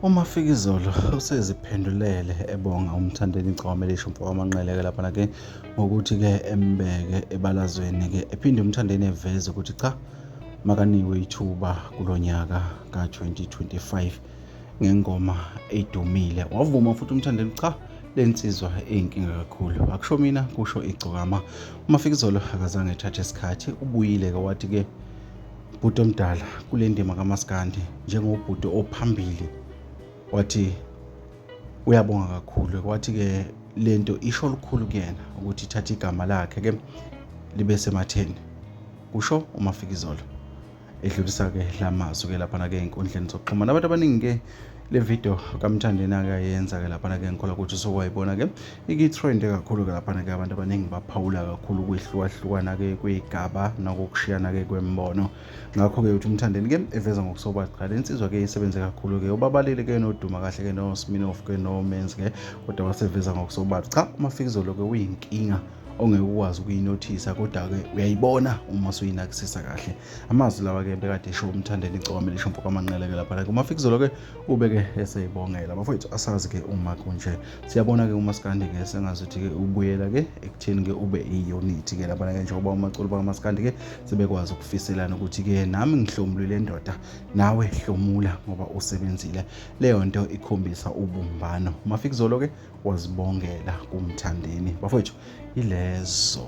UMafikizolo useziphendulele ebonga uMthandeni Gcome lisho mfokamanqele-ke laphana-ke ngokuthi-ke embeke ebalazweni-ke ephinde uMthandeni eveze ukuthi cha makaniwe ithuba kulo nyaka ka-2025 ngengoma edumile wavuma futhi uMthandeni cha le nsizwa eyinkinga kakhulu akusho mina kusho igcokama umafikizolo akazange ethathe isikhathi ubuyile-ke wathi-ke Bhuti omdala kule ndima kamaskandi njengobhuti ophambili wathi uyabonga kakhulu kwathi-ke le nto isho lukhulu kuyena ukuthi ithatha igama lakhe-ke libe sematheni kusho umafikizolo edlulisa-ke la mazwi-ke laphana-ke ey'nkundleni zokuxhumana abantu abaningi-ke le video kamthandeni-ke ayenza-ke laphana-ke ngikhola ukuthi usukwayibona-ke iki-trend kakhulu-ke laphana-ke abantu abaningi baphawula kakhulu ukwehlukahlukana-ke kwey'gaba nakokushiyana-ke kwembono ngakho-ke uthi umthandeni-ke eveza ngokusobala qala insizwa-ke isebenze kakhulu-ke ubabalile-ke noduma kahle-ke nosminof-ke nomenzi-ke kodwa waseveza ngokusobala cha umafikizolo-ke uyinkinga ongeke ukwazi ukuyinothisa kodwa-ke uyayibona uma suyinakisisa kahle amazwi lawa ke bekade esho umthandeni igcokama elisho mfoka manqeleke lapha like umafikizolo ke ubeke eseyibongela bafowethu asazi ke uma kunje siyabona ke umaskandi ke sengazuthi ke ubuyela ke ekutheni ke ube iyunithi ke lapha ke njengoba umaculi bakamaskandi ke sebekwazi ukufiselana ukuthi ke nami ngihlomulile ndoda nawe hlomula ngoba usebenzile leyo nto ikhombisa ubumbano umafikizolo ke wazibongela kumthandeni bafowethu ilezo